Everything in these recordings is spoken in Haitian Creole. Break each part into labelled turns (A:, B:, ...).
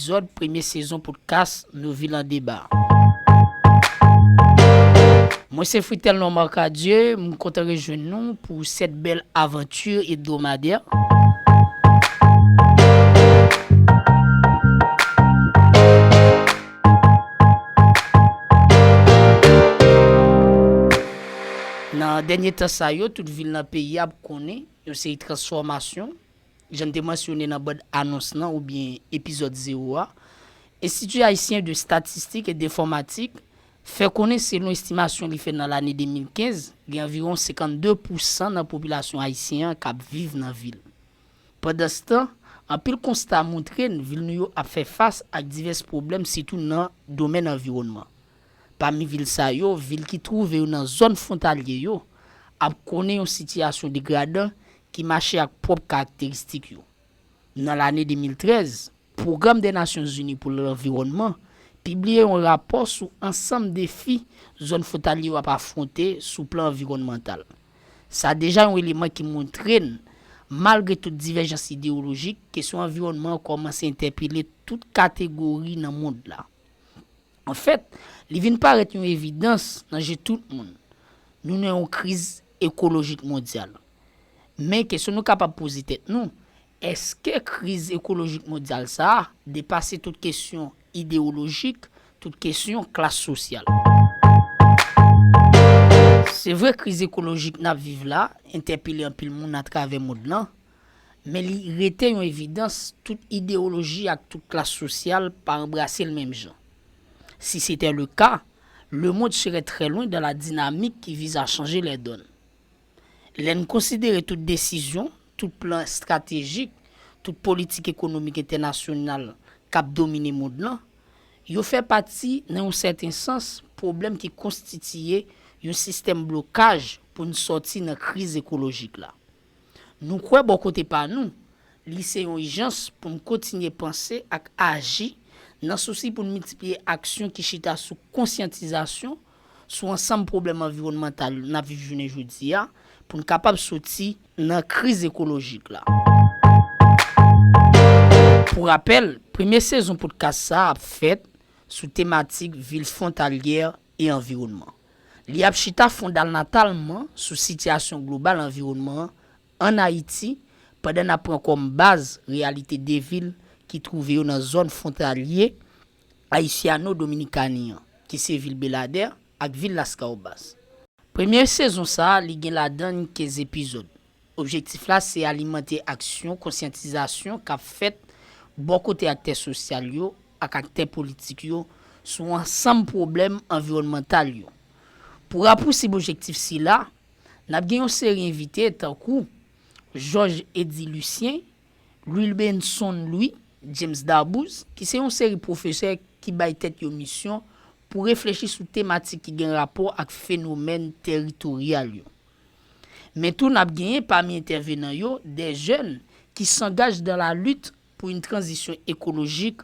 A: epizòd premye sezon podkas Nou Vil an Deba. Mwen se Fritelnor Marcadieu, m kontan rejwenn nou pou sèt bèl avanti ebdomadè. Nan dènye tan sa yo, tout vil nan peyi a ap konnen yon seri transfòmasyon Jan n te mansyone nan band anons lan oubyen epizòd zewo a, Institut Haïtien de Statistique et d'Informatique fè konnen selon estimasyon li fè nan lane 2015, gen anviwon 52 pousan nan popilasyon ayisyen an k ap viv nan vil. Pandanstan, anpil konsta montre n vil nou yo ap fè fas ak divès pwoblèm sitou nan domèn anviwònman. Pami vil sa yo, vil ki twouve yo nan zòn fwontalye yo ap konnen yon sitiyasyon degradan ki mache ak pwòp karakteristik yo. Nan lane 2013, Pwogram dè Nasyon Zini pou Lanviwònman pibliye yon rapò sou ansanm defi zòn fwontalye yo ap afwonte sou plan anviwònmantal. Sa deja yon eleman ki montre n, malgre tout divèjans idewolojik, kesyon anviwònman an kòmanse entèpele tout kategori nan mond la. Anfèt, li vin parèt yon evidans nan je tout moun, nou nan yon kriz ekolojik mondyal. Men kesyon nou kapab poze tèt nou, èske kriz ekolojik mondyal sa a depase tout kesyon idewolojik, tout kesyon klas sosyal? Se vre kriz ekolojik n ap viv la entèpele anpil moun atravè mond lan, men li rete yon evidans tout idewoloji ak tout klas sosyal pa anbrase l menm jan. Si sete le ka, le mond sere trè lwen dan la dinamik ki vize a chanje lè donn. Lè n konsidere tout desizyon, tout plan estratejik, tout politik ekonomik entènasyonal k ap domine mond lan, yo fè pati, nan yon sèten sans, pwoblèm ki konstitiye yon sistèm blokaj pou n sòti nan kriz ekolojik la. Nou kwè bò kote pa nou, li se yon ijans pou n kontinye panse ak aji nan sousi pou n miltipliye aksyon ki chita sou konsyantizasyon, sou ansanm pwoblèm anviwònmantal n ap viv jounen jodi a pou n kapab soti nan kriz ekolojik la. Pou rapèl, premye sezon podkas sa ap fèt sou tematik vil fwontalyè e anviwònman. Li ap chita fondalnatalman sou sitiyasyon global anviwònman an ann Ayiti pandan n ap pran kòm baz reyalite de vil ki twouve yo nan zòn fwontalye Haitiano-Dominikani an, ki se vil Beladè ak vil Las Caobas. Premye sezon sa a li gen ladan n 15 epizòd. Objektif la se alimante aksyon konsyantizasyon k ap fèt bò kote aktè sosyal yo ak aktè politik yo sou ansanm pwoblèm anviwònmantal yo. Pou rapousib objektif sila, n ap gen yon seri envite tankou Georges Eddy Lucien Wilbenson Louis, James Darbouze, ki se yon seri pwofesè ki bay tèt yo misyon pou reflechi sou tematik ki gen rapò ak fenomèn teritoryal yo. Men tou nap genyen pami entèvenan yo de jèn ki sangaj dan la lit pou yn tranzisyon ekolojik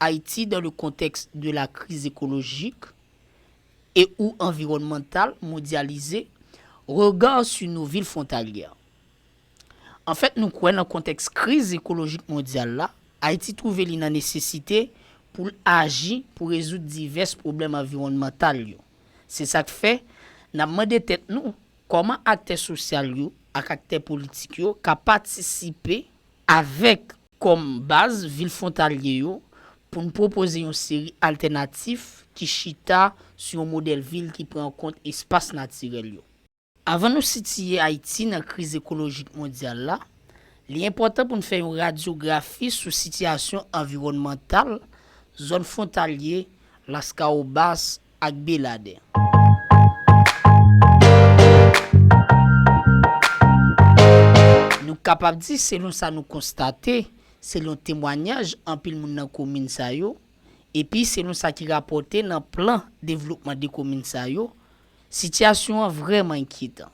A: Haïti dans le contexte de la crise écologique et ou environnementale mondialisée, Regard sur nos villes frontalières An fèt nou kwè nan kontèks kriz ekolojik mondyal la, Ayiti twouve li nan nesesite pou l aji pou rezoud divès pwoblèm anviwònmantal yo. Se sa k fè, n ap mande tèt nou, kòman aktè sosyal yo ak aktè politik yo ka patisipe avèk. kòm baz vil fwontalye yo pou n pwopoze yon seri altènatif ki chita sou yon modèl vil ki pran an kont espas natirèl yo. Avan nou sitiye Ayiti nan kriz ekolojik mondyal la, li enpòtan pou n fè yon radyografi sou sitiyasyon anviwònmantal zòn fwontalye Laskawobas ak Beladè. Nou kapab di, selon sa nou konstate, selon temwanyaj anpil moun nan komin sa yo, epi selon sa ki rapòte nan plan devlopman 2 komin sa yo, sitiyasyon an vrèman enkyetan.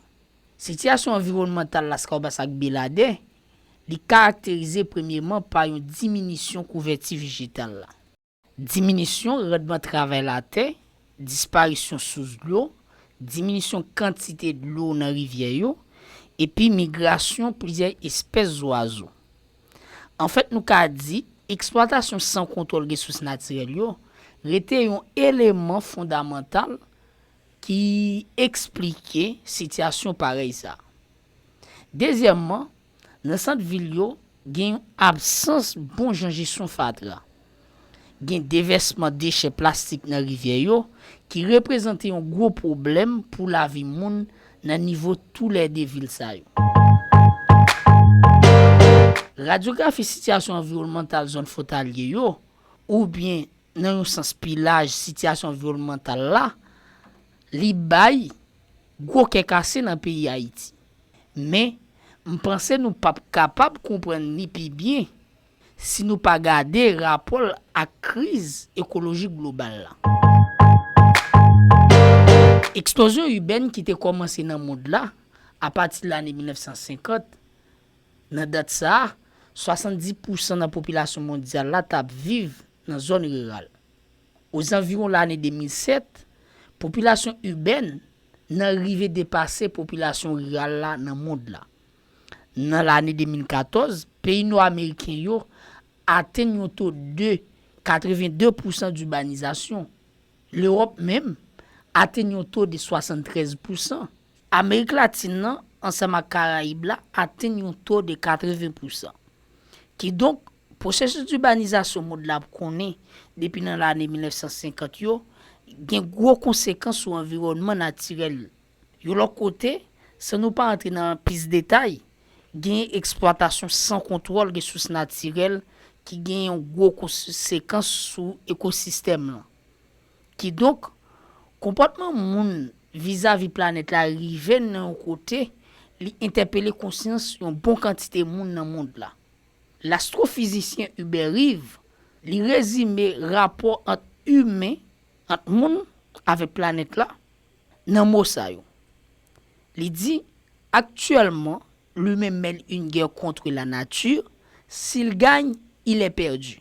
A: Sitiyasyon anviwònmantal Laskawobas ak Beladè, li karakterize premyeman pa yon diminisyon kouvèti vejetal la. Diminisyon randman travay latè, disparisyon sous dlo, diminisyon kantite dlo nan rivyè yo, epi migrasyon plizyè espès zwazo. Anfèt nou ka di eksplwatasyon san kontwòl resous natirèl yo rete yon eleman fondamantal ki eksplike sitiyasyon parèy sa. Dezyèmman, Nan sant vil yo, gen yon absans bon jan jesyon fatra. Gen devèsman dechè plastik nan rivyè yo ki reprezante yon gwo pwoblèm pou lavi moun nan nivo tou lè 2 vil sa yo. Radyografi sitiyasyon anviwònmantal zòn fwontalye yo, oubyen nan yon sans pi laj sitiyasyon anviwònmantal la, li bay gwo kè kase nan peyi Ayiti. Men, m panse nou pap kapab konprann li pi byen si nou pa gade rapò l ak kriz ekolojik global la. Eksplozyon ibèn ki te kòmanse nan mond la apati lane 1950, nan dat sa a, 70 pousan nan popilasyon mondyal la t ap viv nan zòn riral. Ozanviwon lane 2007, popilasyon ibèn nan rive depase popilasyon riral la nan mond la. Nan lane 2014, peyi nò ameriken yo atenn yon to de 82 pousan dibanizasyon. Lewòp menm atenn yon to de 73 pousan. Amerik Latin nan ansanm ak Karayib la atenn yon to de 80 pousan. Kidonk, Pwosesis dibanizasyon mond la ap konnen depi nan lane 1950 yo gen gwo konsekans sou anviwònman natirèl l. Yon lòt kote, san nou pa antre nan plis detay, genyen eksplwatasyon san kontwòl resous natirèl ki gen yon gwo konsekans sou ekosistèm lan. Kidonk, konpòtman moun vizavi planèt la rive nan yon kote li entèpele konsyans yon bon kantite moun nan mond la. Lastrofizisyen Hubert Reeve, li rezime rapò ant imen, ant moun, avèk planèt la, nan mo sa yo. Li di, Actuellement, l'humain mène une guerre contre la nature, s'il gagne, il est perdu.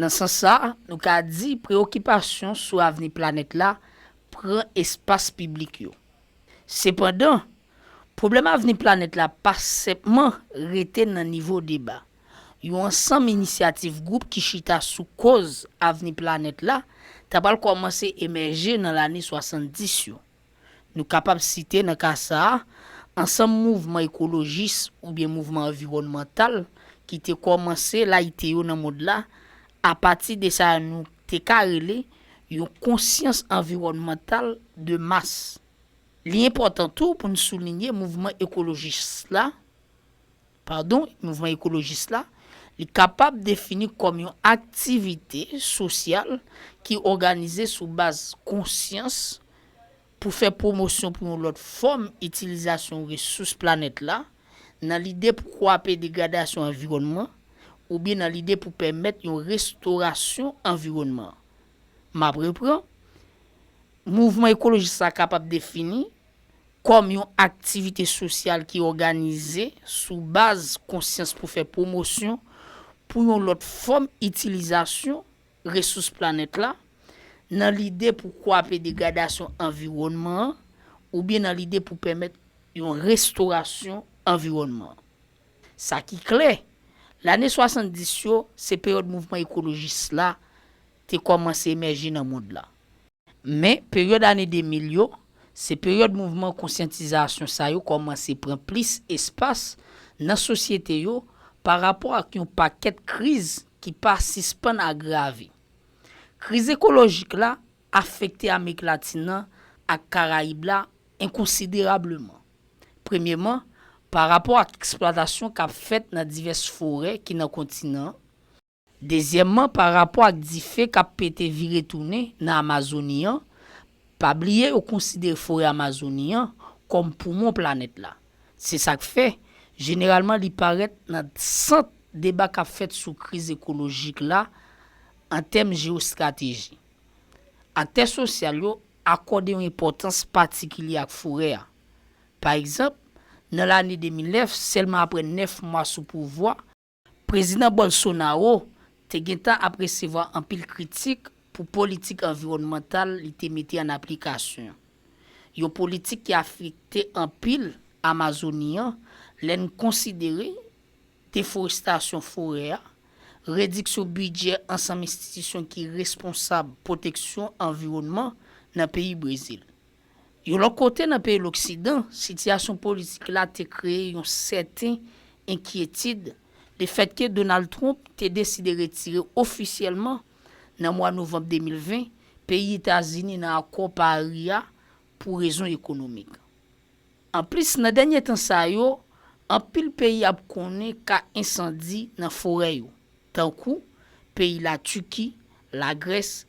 A: Nan sans sa, nou ka di preyokipasyon sou avni planèt la pran espas piblik yo. Sepandan, pwoblèm avni planèt la pa senpman rete nan nivo deba. Yon ansanm inisyativ gwoup ki chita sou koz avni planèt la ta pral kòmanse emèje nan lane 70 yo. Nou kapab site nan ka sa a, ansanm mouvman ekolojis oubyen mouvman anviwònmantal ki te kòmanse layite yo nan mond la apati de sa nou te ka rele yon konsyans anviwònmantal de mas. Li enpòtan tou pou n soulinye mouvman ekolojis la, Padon, mouvman ekolojis la, li kapab defini kòm yon aktivite sosyal ki òganize sou baz konsyans pou fè pwomosyon pou yon lòt fòm itilizasyon resous planèt la, nan lide pou kwape degradasyon anviwònman oubyen nan lide pou pèmèt yon restorasyon anviwònman. M ap repran, Mouvman ekolojis la kapab defini. kòm yon aktivite sosyal ki òganize sou baz konsyans pou fè pwomosyon pou yon lòt fòm itilizasyon resous planèt la, nan lide pou kwape degradasyon anviwònman an oubyen nan lide pou pèmèt yon restorasyon anviwònman an. Sa ki klè, lane 70 yo se peryòd mouvman ekolojis la te kòmanse emèje nan mond la. Men, peryòd ane 2000 yo, se peryòd mouvman konsyantizasyon sa yo kòmanse pran plis espas nan sosyete yo pa rapò ak yon pakèt kriz ki pa sispann agrave. Kriz ekolojik la afekte Amerik Latin nan ak Karayib la enkonsiderableman. Premyeman, pa rapò ak eksplwatasyon k ap fèt nan divès forè ki nan kontinan an, Dezyèmman, pa rapò ak dife k ap pete vire tounen nan Amazoni an, pa bliye yo konsidere forè Amazoni an kòm poumon planèt la. Se sa k fè, jeneralman li parèt nan sant deba k ap fèt sou kriz ekolojik la an tèm jewostrateji. Aktè sosyal yo akòde yon enpòtans patikilye ak forè a. Pa egzanp, nan lane 2009, sèlman apre 9 mwa sou pouvwa, Prezidan Bolsonaro te gentan ap resevwa anpil kritik pou politik anviwònmantal li te mete an aplikasyon, yon politik ki afekte anpil Amazoni an lè n konsidere deforestasyon forè a, rediksyon bidjè ansanm enstitisyon ki responsab pwoteksyon anviwònman nan peyi Brezil. Yon lòt kote, nan peyi loksidan, sitiyasyon politik la te kreye yon sèten enkyetid lefètke Donald Trump te deside retire ofisyèlman, nan mwa novanm 2020, peyi Etazini nan akò Pari a pou rezon ekonomik. Anplis, nan dènye tan sa yo, anpil peyi ap konnen ka ensandi nan forè yo, tankou, peyi Latiki, Lagrès,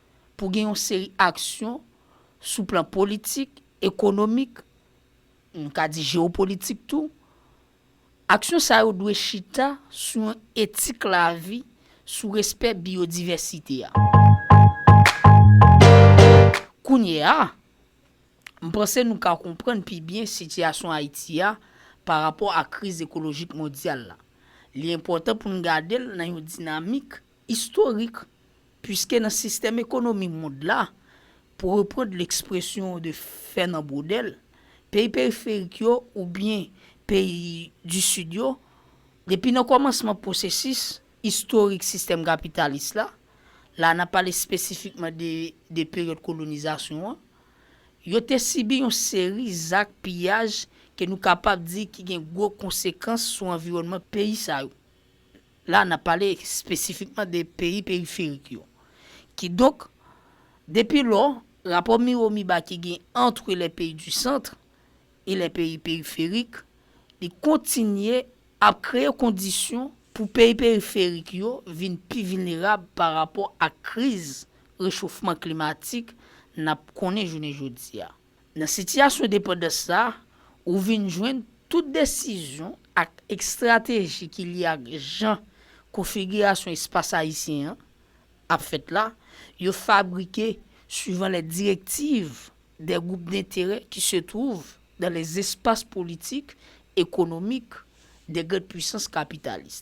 A: pou gen yon seri aksyon sou plan politik, ekonomik, nou ka di jewopolitik tou. Aksyon sa yo dwe chita sou yon etik lavi, sou respè biyodivèsite a. Kounye a, m panse nou ka konprann pi byen sitiyasyon Ayiti a pa rapò ak kriz ekolojik mondyal la. Li enpòtan pou n gade l nan yon dinamik istorik. Piske nan sistèm ekonomi mond la, pou reprand lekspresyon de Fènan Brodèl, peyi periferik yo oubyen peyi di Sid yo, depi nan kòmansman pwosesis istorik sistèm kapitalis la, la nan pale espesifikman de de peryòd kolonizasyon an, yo te sibi yon seri zak piyaj ke nou kapab di ki gen gwo konsekans sou anviwònman peyi sa yo. La n ap pale espesifikman de peyi periferik yo. Kidonk, depi lò, rapò miwo-miba ki gen antre les pays du centre et les pays périphériques li kontinye ap kreye kondisyon pou peyi periferik yo vin pi vilnerab pa rapò ak kriz rechofman klimatik n ap konnen jounen jodi a. Nan sitiyasyon depandans sa a, ou vin jwenn tout desizyon ak ekstrateji ki lye ak jan konfigirasyon espas ayisyen an ap fèt la, yo fabrike suivan lè direktiv dè gwoup denterè ki se twouv dan lè zespas politik, ekonomik dè grand pwisans kapitalis.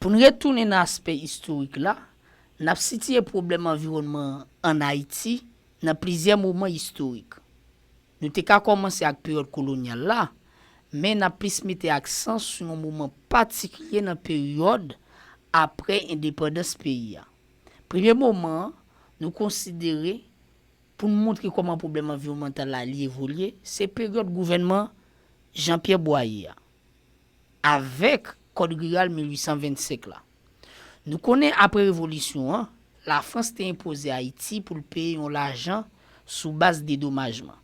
A: Pou n retounen nan aspè istorik la, n ap sitiye pwoblèm anviwònman an ann Ayiti nan plizyè moman istorik. Nou te ka kòmanse ak peryòd kolonyal la, men n ap plis mete aksan sou yon moman patikilye nan peryòd apre endepandans peyi a. Premye moman an nou konsidere pou n montre kòman pwoblèm anviwònmantal la li evolye se peryòd gouvènman Jean Pierre Boyer a. Avèk Kòd Riral 1825 la. Nou konnen apre revolisyon an, Lafrans te enpoze Ayiti pou l peye yon lajan sou baz dedomajman.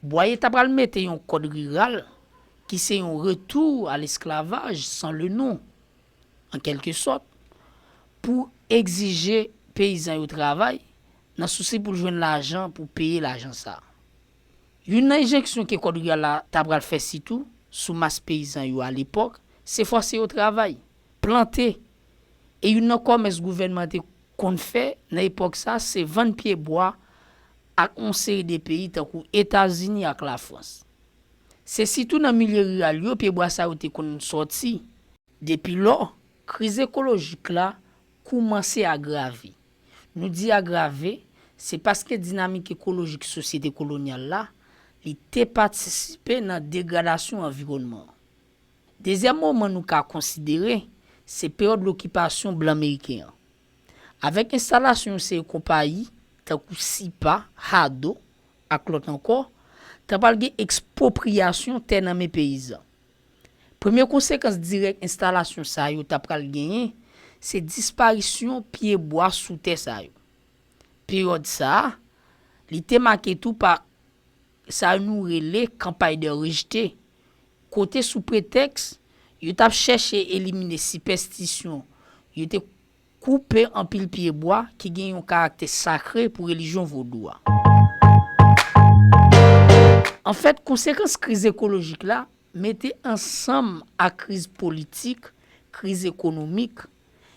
A: Bwaye ta pral mete yon Kòd Riral ki se yon retou a lesklavaj san le non, an kèlke sòt, pou egzije peyizan yo travay, nan sousi pou l jwenn lajan pou peye lajan sa a. Youn nan enjenksyon ke Kòd Riral la ta pral fè sitou sou mas peyizan yo alepòk, se fòse yo travay, plante. E youn nan kòmès gouvènman te konn fè nan epòk sa a se vann pye bwa ak yon seri de peyi tankou Etazini ak Lafrans. Se sitou nan milye riral yo pye bwa sa yo te konn sòti. Depi lò, kriz ekolojik la koumanse agrave. Nou di agrave, se paske dinamik ekolojik sosyete kolonyal la, li te patisipe nan degradasyon anviwònman an. Dezyèm moman nou ka konsidere, se peryòd lokipasyon blan meriken an. Avèk enstalasyon yon seri konpayi, tankou Sipa, Hado, ak lòt ankò, ta pral gen ekspwopriyasyon tè nan men peyizan. Premye konsekans dirèk enstalasyon sa yo ta pral genyen, se disparisyon pye bwa sou tè sa yo. Peryòd sa a, li te make tou pa sa nou rele campagne de rejete, kote sou pretèks yo t ap chèche elimine sipèstisyon yo te Koupe anpil pye bwa ki gen yon karaktè sakre pou relijyon vodou a. Anfèt, konsekans kriz ekolojik la mete ansanm ak kriz politik, kriz ekonomik,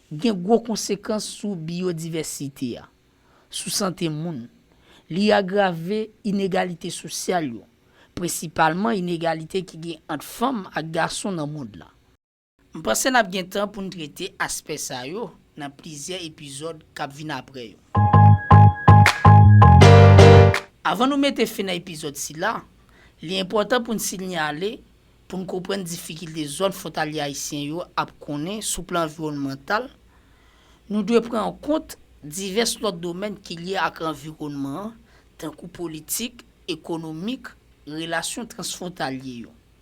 A: gen gwo konsekans sou biyodivèsite a, sou sante moun. Li agrave inegalite sosyal yo, prensipalman inegalite ki gen ant fanm ak gason nan mond la. M panse n ap gen tan pou n trete aspè sa yo nan plizyè epizòd k ap vin apre yo. Avan nou mete fen nan epizòd sila, li enpòtan pou n sinyale pou n konprann difikilte zòn fwontalye ayisyen yo ap konnen sou plan anviwònmantal, nou dwe pran an kont divès lòt domèn ki lye ak anviwònman an tankou politik, ekonomik, relasyon transfwontalye yo.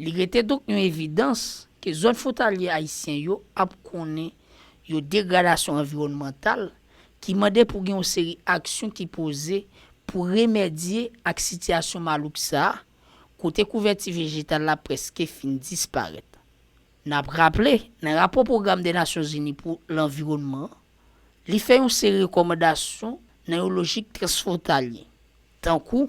A: Li rete donk yon evidans ke zòn fwontalye ayisyen yo ap konnen yon degradasyon anviwònmantal ki mande pou gen yon seri aksyon ki poze pou remèdye ak sitiyasyon malouk sa a kote kouvèti vejetal la prèske fin disparèt. N ap raple, nan rapò Pwogram dè Nasyonzini pou Lanviwònman an, li fè yon seri rekòmandasyon nan yon lojik transfwontalye, tankou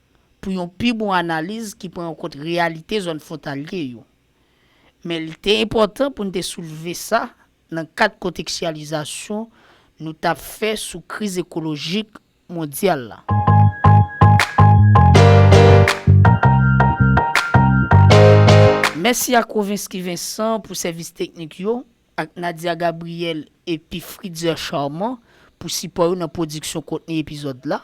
A: pou yon pi bon analiz ki pran an kont reyalite zòn fwontalye yo. Men li te enpòtan pou n te soulve sa nan kad konteksyalizasyon nou t ap fè sou kriz ekolojik mondyal la. Mèsi ak Rovinsky Vincent pou sèvis teknik yo, ak Nadia Gabriel epi Fritzer Charmant pou sipò yo nan pwodiksyon kontni epizòd la.